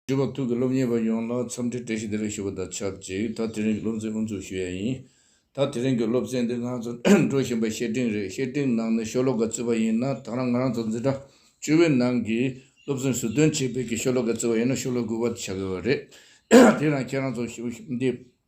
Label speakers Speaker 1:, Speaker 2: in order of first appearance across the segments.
Speaker 1: སྤྲུལ་པ་ཐུགས་ཀྱི་སློབ་གཉེར་བ་ཡོངས་ལ་འཚམས་འདྲི་བཀྲ་ཤིས་བདེ་ལེགས་ཞུ་བ་དང་ཆབས་ཅིག་ད་དེ་རིང་གི་སློབ་ཚན་དབུ་འཛུགས་ཞུ་ཡ་ཡིན། ད་དེ་རིང་གི་སློབ་ཚན་འདི་ང་ཚོ་འགྲོ་བཞིན་པའི་བཤེར་སྒྲིང་རེད་བཤེར་སྒྲིང་ནང་ནས་ཤོ་ལོ་ཀ་བརྩི་བ་ཡིན་ན་ཐང་རང་ང་རང་ཚོ་འཛིན་གྲྭ་བཅུ་བའི་ནང་གི་སློབ་ཚན་ཟུར་འདོན་བྱེད་པའི་གི་ཤོ་ལོ་ཀ་བརྩི་བ་ཡིན་ན་ཤོ་ལོ་དགུ་བ་བྱ་དགོས་བ་རེད་དེ་རང་ཁྱེད་རང་ཚོ་ཞུ་འདི་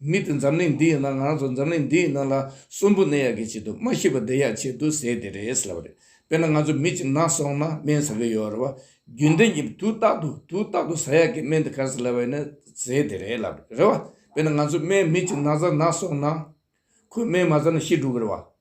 Speaker 1: མི་དེ་འཛམ་གླིང་འདི་ཡི་ནང་ང་རང་ཚོ་འཛམ་གླིང་འདི་ཡི་ནང་ལ་གསོན་པོ་གནས་ཡག་གི་ཆེད་དུ་སྨྲ་ཤེས་པ་བསྡད་ཡག་ཆེད་དུ་ཟེར་དེ་རེད་ཟེར་བ་རེད་དཔེར་ན་ང་ཚོ་མི་གཅིག་ན་སོང་ན་སྨན་ཟ་གི་ཡོད་རེད་བ་རྒྱུན་ལྡན་གྱི་དུས་རྟག་ཏུ་དུས་རྟག་ཏུ་ཟ་ཡག་གི་སྨན་དེ་ག་ཟེ་ལབ་བ་ཡིན་ན་ཟེར་དེ་རེད་ལབ་རེད་བ་དཔེར་ན་ང་ཚོ་སྨན་མི་གཅིག་ན་ཟ་ན་སོང་ན་ཁོས་སྨན་མ་ཟ་ན་ཤི་འགྲོ་གི་རེད་བ།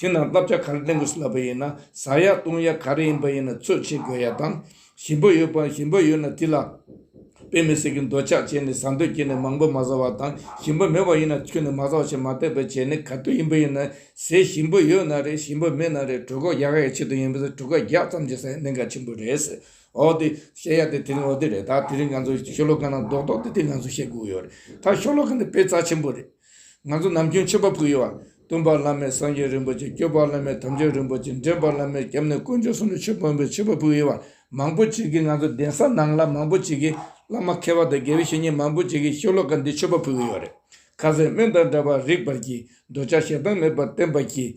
Speaker 1: དེས་ན་བསླབ་བྱ་ག་རེ་གཏན་དགོས་སུ་ལབ་པ་ཡིན་ན་ཟ་ཡག་གཏོང་ཡག་ག་རེ་ཡིན་པ་ཡིན་ན་ཚོད་བྱེད་དགོས་ཡག་དང། ཞིམ་པོ་ཡོད་པའང་ཞིམ་པོ་ཡོད་ན་དེ་ལ་དཔེ་མི་སྲིད་ཀི་འདོད་ཆགས་བྱས་ནས་ཟ་འདོད་སྐྱེས་ནས་མང་པོ་མ་ཟ་བ་དང་ཞིམ་པོ་མེད་པ་ཡིན་ན་ཁྱོད་ནས་མ་ཟ་བ་ཞེས་མ་བལྟས་པར་བྱས་ནས་ག་དུས་ཡིན་པ་ཡིན་ན་ཟས་ཞིམ་པོ་ཡོད་ན་རེད་ཞིམ་པོ་མེད་ན་རེད་གྲོད་ཁོག་ཡག་ཡག་ཆེད་དུ་ཡིན་པས་གྲོད་ཁོག་རྒྱག་ཙམ་གྱིས་ཟ་ཡག་གནད་འགག་ཆེན་པོ་རེད། འོ་དེ་བཤད་ཡག་དེ་དེ་རིང་འོ་དེ་རེད་ད་དེ་རིང་ང་ཚོ་ཤོ་ལོ་ཀ་ནང་རྡོག་རྡོག་དེ་དེ་ང་ཚོ་བཤད་དགོས་ཡོད་རེད་ད་ཤོ་ལོ་ཀ་འདི་དཔེ་རྩ་ཆེན་པོ་རེད། ང་ཚོ་ནམ་རྒྱུན་མཆོད་པ་ཕུལ་ཡོད། སྟོན་པ་བླ་མས་སངས་རྒྱས་རིན་པོ་ཆེ་སྐྱོབ་པ་བླ་མས་དམ་ཆོས་རིན་པོ་ཆེ་འདྲེན་པ་བླ་མས་སྐྱབས་གནས་དཀོན་མཆོག་གསུམ་ལ་ཆོས་དཔོན་པོས་མཆོད་པ་ཕུལ་ཡོད། མང་པོ་བྱེད་ཀྱི་ང་ཚོ་གདན་ས་ནང་ལ་མང་པོ་བྱེད་ཀྱི་བླ་མ་མཁས་པ་དང་དགེ་བའི་བཤེས་གཉེན་མང་པོ་བྱེད་ཀྱི་ཤོ་ལོ་ཀ་འདི་མཆོད་པ་ཕུལ་གྱི་ཡོད་རེད། ཁ་ཟས་སྨན་དང་འདྲ་བར་རིགས་པར་གྱིས་འདོད་ཆགས་ཞེ་སྡང་མེད་པར་བསྟེན་པར་གྱིས།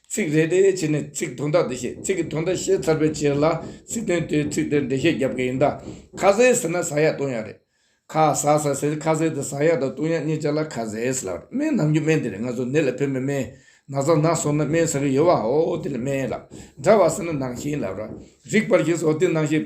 Speaker 1: ཚིག་རེ་རེའི་ཕྱི་ནས་ཚིག་དོན་དག་འགྲེལ་བཤད་ཚིག་གི་དོན་དག་ཤེས་ཚར་བའི་ཕྱིར་ལ་ཚིག་དོན་དེའི་ཚིག་དེར་འགྲེལ་བཤད་རྒྱབ་ཀྱི་ཡིན་ད། ཁ་ཟས་ཟེར་ན་ཟ་ཡག་བཏུང་ཡག་རེད། ཁ་ཟ་ཟ་ཟེར་ཁ་ཟས་དེ་ཟ་ཡག་དང་བཏུང་ཡག་གཉིས་ཆ་ལ་ཁ་ཟས་ལགས་རེད་སྨན་ནམ་རྒྱུ་སྨན་དེ་རེད་ང་ཚོ་ནད་ལ་ཕན་པའི་སྨན། ན་ཟ་ནག་ཟོ་ན་སྨན་ཟ་གི་ཡོད་བ་ཨོའོ་དེ་ལ་སྨན་ལགས། འདྲ་བ་ཟེར་ན་ནང་བཞིན་ལབ་ར། རིག་པར་གྱིས་སོ་དེ་ནང་བཞིན།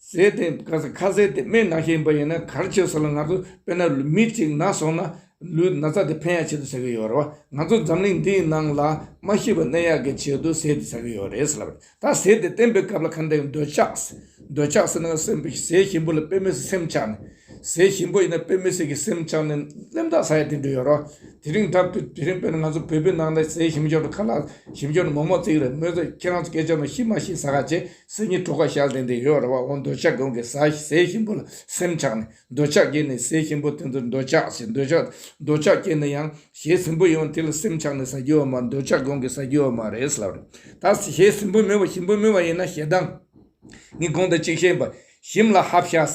Speaker 1: ཟས་དེ་ཁ་ཟས་དེ་སྨན་ནག་ཞིག་ཡིན་པ་ཡིན་ན་གར་ཆོད་ཟེར་ལ་ང་ཚོ་དཔེར་ན་མི་གཅིག་ནག་སོང་ན་ལུས་ན་ཚ་དེ་ཕན་ཡག་བྱེད་དུ་ཟ་གི་ཡོད་རེད་བ། ང་ཚོ་འཛམ་གླིང་འདིའི་ནང་ལ་མ་ཤི་བའི་ནད་ཡག་གི་བྱེད་དུ་ཟས་དེ་ཟ་གི་ཡོད་རེད་ཟེར་ལབ་རེད་ད་ཟས་དེ་བསྟེན་པའི་སྐབས་ལ་ཁ་འདི་འདོད་ཆགས། འདོད་ཆགས་ཟེར་ན་ཟས་ཞིམ་པོ་ལ་དཔེ་མི་སྲིད་སེམས་ཆགས་ནས། ཟས་ཞིམ་པོ་ཡིན་ན་དཔེ་མི་སྲིད་གི་སེམས་ཆགས་ནས་གླེན་རྟགས་ཟ་ཡ་དེ་འདྲ་ཡོད་རེད་བ། དེ་རིང་ད་དེ་རིང་དཔེར་ན་ང་ཚོ་བོད་པའི་ནང་ལ་ཟས་ཞིམ་ཞོར་དུ་ཁ་ལག་ཞིམ་ཞོར་དུ་མོག་མོག་བརྩེགས་རེད་མོད་ཟེར་ཁྱེད་རང་ཚོ་སྐད་ཆ་ནང་ཤི་མ་ཤི་ཟ་ག་བྱེད། ཟས་ཉི་གྲོ་ག་ཤ་གཟན་དེ་ཡོད་རེད་བ་འོ་འདོད་ཆགས་གོང་གི་ཟ་ཟས་ཞིམ་པོ་ལ་སེམས་ཆགས་ནས་འདོད་ཆགས་སྐྱེས་ནས་ཟས་ཞིམ་པོ་དེ་ཚོར་འདོད་ཆགས་ཞེས་འདོད་ཆགས་འདོད་ཆགས་སྐྱེས་ནས་ཡང་ཞེས་ཟིམ་པོ་ཡོང་དེ་ལ་སེམས་ཆགས་ནས་ཟ་རྒྱུ་བ་མ་འདོད་ཆགས་གོང་གི་ཟ་རྒྱུ་བ་མ་རེད་ཟེར་བ་རེད་ད་ཞེས་ཟིམ་པོ་མོས་བ་ཞིམ་པོ་མོས་བ་ཡིན་ན་ཞེ་སྡང་ངས་གོང་དུ་གཅིག་བཤད་པ་ཞིམ་ལ་ཧབ་ཤ་ཟས་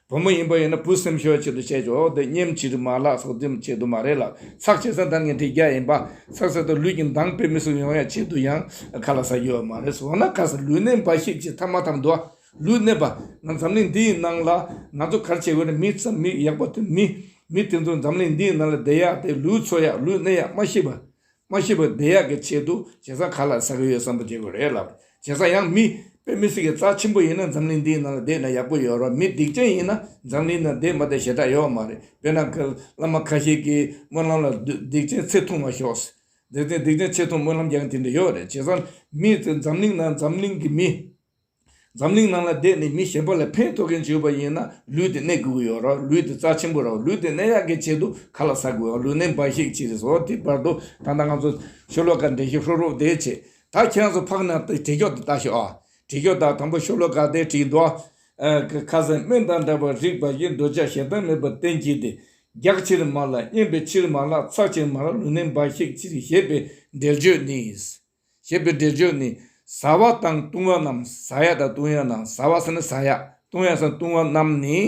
Speaker 1: བུ་མོ་ཡིན་པ་ཡིན་ན་བུ་སེམས་ཤོད་ཅིག་ཏུ་བྱས་ཆོག་འོ་དེ་སྙེམས་བྱེད་དུ་མ་ལགས་སོགས་རྩིས་མ་བྱེད་དུ་མ་རེད་ལ་ཚགས་བྱེད་ས་འདང་ངེས་འགྲིག་རྒྱ་ཡིན་པ་ཚགས་བྱེད་དུ་ལུས་ཀྱི་འདང་སྤེལ་མི་སུ་ཡོང་ཡ་བྱེད་དུ་ཡང་ག་ལ་ས་རྒྱུ་བ་མ་རེད་སོ་ན་ག་ས་ལུས་གནས་འབའ་ཞིག་བྱེད་ཐབས་མ་ཐབས་འདུག་ཨ་ལུས་གནས་པ་ང་འཛམ་གླིང་འདི་ཡི་ནང་ལ་ང་ཚོ་གར་བྱེད་དགོས་ན་མི་ཚ་མི་ཡག་པ་དེ་མི་མི་དེ་ཚོ་འཛམ་གླིང་འདི་ཡི་ནང་ལ་བསྡད་ཡག་དེ་ལུས་འཚོ་ཡག་ལུས་གནས་ཡག་མ་ཤེས་པ་མ་ཤི་བ་བདེ་ཡག་གི་ཆེད་དུ་བྱེ་ས་ག་ལ་ཟ་གི་ཡོད་བསམ་པ་བྱེད་དགོས་རེད་ལབ། བྱེ་ས་ཡང་མི་དཔེ་མི་སྲིད་ཀྱི་རྩ་ཆེན་པོ་ཡིན་ན་འཛམ་གླིང་འདིའི་ནང་ལ་བསྡད་ན་ཡག་པོ་ཡོད་རོགས་མི་སྡིག་ཅན་ཡིན་ན་འཛམ་གླིང་ནང་བསྡད་མ་བསྡད་ཞེ་དྲག་ཡོད་མ་རེད་དཔེར་ན་གི་བླ་མ་ཁ་ཤས་ཀྱི་སྨོན་ལམ་ལ་སྡིག་ཅན་ཚེ་ཐུང་མ་ཤོག་སེ་སྡིག་ཅན་ཚེ་ཐུང་སྨོན་ལམ་རྒྱག་གི་དེ་འདྲ་ཡོད་རེད་བྱེ་ས་མི་ཚེ་འཛམ་གླིང་ནང་འཛམ་གླིང་གི་མི། འཛམ་གླིང་ནང་ལ་བསྡད་ནས་མི་གཞན་པ་ལ་ཕན་ཐོགས་མཁན་ཞིག་ཡོད་པ་ཡིན་ན་ལུས་དེ་གནས་དགོས་ཀྱི་ཡོད་རོགས་ལུས་དེ་རྩ་ཆེན་པོ་རོགས་ལུས་དེ་གནས་ཡག་གི་ཆེད་དུ་ཁ་ལ་ཟ་དགོས་ཡོད་ལུས་གནས་འབའ་ཞིག་ཅིག་རེད་ཟོ་དེའི་བར་དུ་ད་ལྟ་ང་ཚོ་ཤོ་ལོ་ཀ་འདྲེན་ཤིག་ཧྲོ་ཧྲོ་དེའི་ཆེད་ད་ཁྱེད་རང་ཚོ་ཕག་ནང་དུ་བྲིས་ཁྱོག་དེ་ལྟ་ཤོག་ཨ། བྲིས་ཁྱོག་དང་དང་པོ་ཤོ་ལོ་ཀ་དེ་བྲིས་འདུག་ཨ། ཁ་ཁ་ཟས་སྨན་དང་འདྲ་བར་རིགས་འབའ་ཞིག་འདོད་ཆགས་ཞེ་སྡང་མེད་པར་བསྟེན་གྱིས་ཏེ། རྒྱགས་ཕྱིར་མ་ལ་གཉན་པའི་ཕྱིར་མ་ལ་ཚགས་ཕྱིར་མ་ལ་ལུས་གནས་འབའ་ཞིག་ཅིག་རེད་ཞེས་པའི་འགྲེལ་བརྗོད་ནི། ཞེས་པའི་སྒྲས་བརྗོད་ནས་བཟའ་བ་དང་བཏུང་བ་རྣམས་བཟའ་ཡག་དང་བཏུང་ཡག་དང་བཟའ་བ་སེམས་ན་བཟའ་ཡག་བཏུང་ཡག་སེམས་ན་བཏུང་བ་རྣམས་ནི།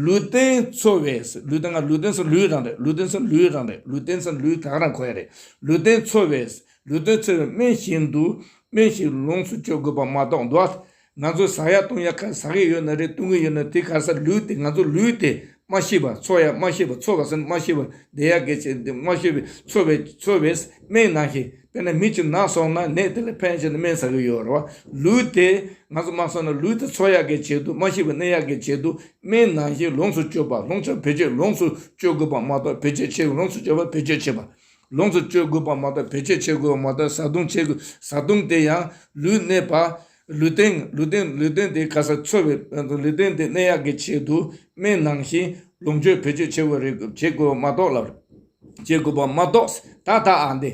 Speaker 1: ལུས་རྟེན་འཚོ་བའི་སེམས་ལུས་དང་ལུས་རྟེན་སེམས་ལུས་རང་རེད་ལུས་རྟེན་སེམས་ལུས་རང་རེད་ལུས་རྟེན་སེམས་ལུས་གང་རང་གོ་ཡ་རེད་ལུས་རྟེན་འཚོ་བའི་སེམས་ལུས་རྟེན་འཚོ་བའི་སྨན་བཞིན་དུ་སྨན་ཞིག་ལོངས་སུ་སྤྱོད་དགོས་པ་མ་གཏོགས་འདུག་ཨ། ང་ཚོ་ཟ་ཡག་བཏུང་ཡག་ཁ་ཟ་གི་ཡོད་ན་རེད་བཏུང་གི་ཡོད་ན་དེ་ག་སར་ལུས་དེ་ང་ཚོ་ལུས་དེ་སྨྲ་ཤེས་པ་འཚོ་ཡག་སྨྲ་ཤེས་པ་འཚོ་ག་སར་སྨྲ་ཤེས་པ་བསྡད་ཡག་གི་བྱས་འདི་སྨྲ་ཤེས་པའི་འཚོ་བའི་འཚོ་བའི་སྨན་ནང་ཞིག་དཔེར་ན་མི་གཅིག་ནག་སོང་ན་ནད་དེ་ལ་ཕན་ཆེ་ན་སྨན་ཟ་གི་ཡོད་རེད་བ་ལུས་དེ་ང་ཚོ་སྨྲ་སོང་ན་ལུས་དེ་འཚོ་ཡག་གི་བྱས་འདུག་སྨྲ་ཤེས་པ་གནས་ཡག་གི་བྱས་འདུག་སྨན་ནང་བཞིན་ལོངས་སུ་སྤྱོད་པ་ལོངས་སྤྱོད་བེད་སྤྱོད་ལོངས་སུ་སྤྱོད་དགོས་པ་མ་གཏོགས་བེད་སྤྱོད་བྱེད་ལོངས་སུ་སྤྱོད་པ་བེད་སྤྱོད་བྱེད་པ་ལོངས་སུ་སྤྱོད་དགོས་པ་མ་གཏོགས་བེད་སྤྱོད་བྱེད་དགོས་པ་མ་གཏོགས་བཟའ་བཏུང་བྱེད་དགོས་བཟའ་བཏུང་དེ་ཡང་ལུས་གནས་པ། ལུས་སྟེང་ལུས་སྟེང་ལུས་སྟེང་དེ་ག་སར་འཚོལ་བའི་ལུས་སྟེང་དེ་གནས་ཡག་གི་ཆེད་དུ་སྨན་ནང་བཞིན་ལོངས་སྤྱོད་བེད་སྤྱོད་བྱེད་དགོས་རེད་དགོས་བྱེད་དགོས་པ་མ་གཏོགས་ལ་བྱེད་དགོས་པ་མ་གཏོགས་ད་ལྟ་ཨ་འདི་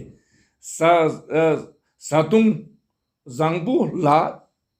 Speaker 1: བཟའ་བཟའ་བཏུང་བཟང་པོ་ལ་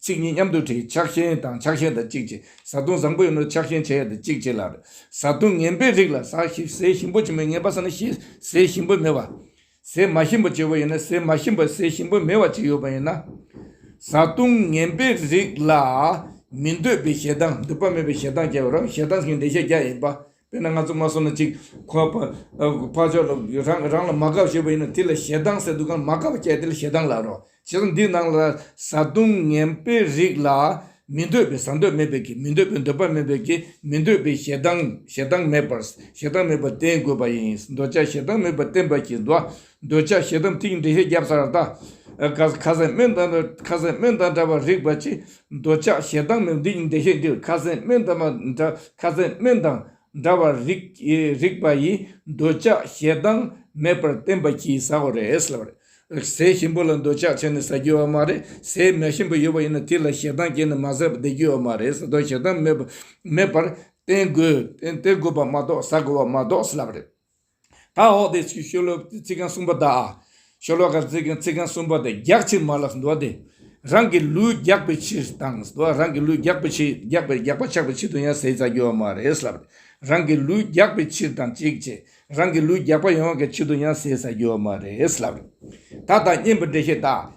Speaker 1: ཚིག་གཉིས་མཉམ་དུ་བྲིས་ཕྱག་ཤེན་དང་ཕྱག་ཤེན་དང་གཅིག་བྱས་བཟའ་བཏུང་བཟང་པོ་ཡིན་ནོ་ཕྱག་ཤེན་བྱས་ཡོད་དེ་གཅིག་བྱས་ལ། བཟའ་བཏུང་ངན་པའི་རིགས་ལ་ཟ་ཞིག་ཟས་ཞིམ་པོ་བྱིན་མོད་ངན་པ་ཟ་ན་ཞེས་ཟས་ཞིམ་པོ་མེད་པ། ཟས་མ་ཞིམ་པོ་བྱས་པ་ཡིན་ན་ཟས་མ་ཞིམ་པ་ཟས་ཞིམ་པོ་མེད་པ་བྱས་ཡོད་པ་ཡིན་ན། བཟའ་བཏུང་ངན་པའི་རིགས་ལ་མི་འདོད་པའི་ཞེ་སྡང་འདོད་པ་མེད་པའི་ཞེ་སྡང་བྱས་པ་རང་ཞེ་སྡང་གི་འགྲེལ་བཤད་རྒྱ་ཡིན་པ། དཔེར་ན་ང་ཚོ་མ་སོང་ན་གཅིག་ཁོ་ཨ་ཕ་ཕ་ཆོག་ལ་རང་རང་ལ་མ་དགའ་བ་བྱེད་པ་ཡིན་ན་དེ་ལ་ཞེ་སྡང་ཟེར་འདུག་གང་ལ་མ་དགའ་བ་བྱས་དེ་ལ་ཞེ་སྡང་ལགས་རོགས་བྱས་ཙང་འདི་ནང་ལ་བཟའ་བཏུང་ངན་པའི་རིགས་ལ་མི་འདོད་པའི་བཟའ་འདོད་མེད་པས་ཀྱི་མི་འདོད་པའི་འདོད་པ་མེད་པས་ཀྱི་མི་འདོད་པའི་ཞེ་སྡང་ཞེ་སྡང་མེད་པར་ཞེ་སྡང་མེད་པར་བསྟེན་དགོས་པ་ཡིན་འདོད་ཆགས་ཞེ་སྡང་མེད་པར་བསྟེན་པར་གྱི་འདོད། འདོད་ཆགས་ཞེ་སྡང་ཐིག་འདྲེ་ཤེས་རྒྱ་བཟའ་ར་ད། ཁ་ཟས་སྨན་དང་ཁ་ཟས་སྨན་དང་འདྲ་བར་རིག་པར་གྱིས། འདོད་ཆགས་ཞེ་སྡང་མི་འདི་འདྲེ་ཤེས་འདིར་ཁ་ཟས་སྨན་དང་ཁ་ཟས་སྨན་དང་འདྲ་བར་རིག་པ་ཡིས་འདོད་ཆགས་ཞེ་སྡང་མེད་པར་བསྟན་པར་གྱིས་ཟ་བ་རེད་ཟེར་བ་རེད། ཟས་ཞིམ་པོ་ལ་འདོད་ཆགས་བྱས་ནས་ཟ་རྒྱུ་ཡོད་བ་མ་རེད། ཟས་མ་ཞིམ་པོ་ཡོད་བ་ཡིན་ན་དེ་ལ་ཞེ་སྡང་སྐྱེས་ནས་མ་ཟས་པ་བསྡད་རྒྱུ་ཡོད་མ་རེད་ཟ་འདོད་ཞེ་སྡང་མེད་པར་བསྟན་དགོས་པ་མ་གཏོགས་ཟ་དགོས་པ་མ་གཏོགས་ཟེར་བ་རེད། ད་འོག་དེ་ཕྱིའི་ཤོ་ལོ་ཀའི་ཚིག་རྐང་གསུམ་པ་དག། ཤོ་ལོ་ཀའི་ཚིག་རྐང་གསུམ་པ་དེ་རྒྱག་ཕྱིར་མ་ལགས་འགྲོ་སྟེ། རང་གི་ལུས་རྒྱག་པའི་ཕྱིར་དང། རང་གི་ལུས་རྒྱག་པའི་ཕྱིར་རྒྱག་པའི་རྒྱག་པ་ཆགས་པའི་ཕྱིར་དུ་ཡང་ཟས་རྩྭ་རྒྱུ་བ་མ་རེད་ལབ། རང་གི་ལུས་རྒྱག་པའི་ཕྱིར་དང་གཅིག་བྱས། རང་གི་ལུས་རྒྱག་པ་ཡོང་བའི་ཕྱིར་དུ་ཡང་ཟས་རྩྭ་རྒྱུ་བ་མ་རེད་ལབ། ད་ལྟ་བསྙེན་པའི་འགྲེལ་བཤད་དག་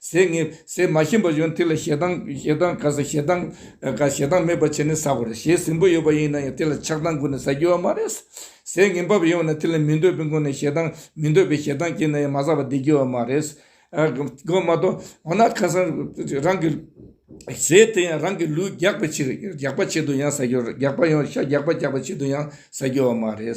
Speaker 1: ཟས་ངན་ཟས་མ་ཞིམ་པ་ཡོན་ཏན་ལ་ཞེ་སྡང་ཞེ་སྡང་དགའ་ས་ཞེ་སྡང་དགའ་ཞེ་སྡང་མེད་པར་བྱས་ནས་ཟ་བ་རེད་ཞེས་ཟིང་པོ་ཡོད་པ་ཡིན་ན་ཡང་དེ་ལ་ཆགས་སྡང་བསྐུར་ནས་ཟ་རྒྱུ་བ་མ་རེད། ཟས་ངན་འབབ་ཡོང་བ་ན་དེ་ལ་མི་འདོད་པའི་སྒོ་ནས་ཞེ་སྡང་མི་འདོད་པའི་ཞེ་སྡང་སྐྱེས་ན་ཡང་མ་ཟ་བར་བསྡད་རྒྱུ་བ་མ་རེད། དགོས་མ་གཏོགས་འོ་ན་ཁ་སང་རང་གི་ཟས་དེ་ཡང་རང་གི་ལུས་རྒྱགས་པའི་ཕྱིར་རྒྱགས་པ་ཆེད་དུ་ཡང་ཟ་རྒྱུ་རེད་རྒྱགས་པ་ཡང་ཤ་རྒྱགས་པ་རྒྱགས་པ་ཆེད་དུ་ཡང་ཟ་རྒྱུ་བ་མ་རེད།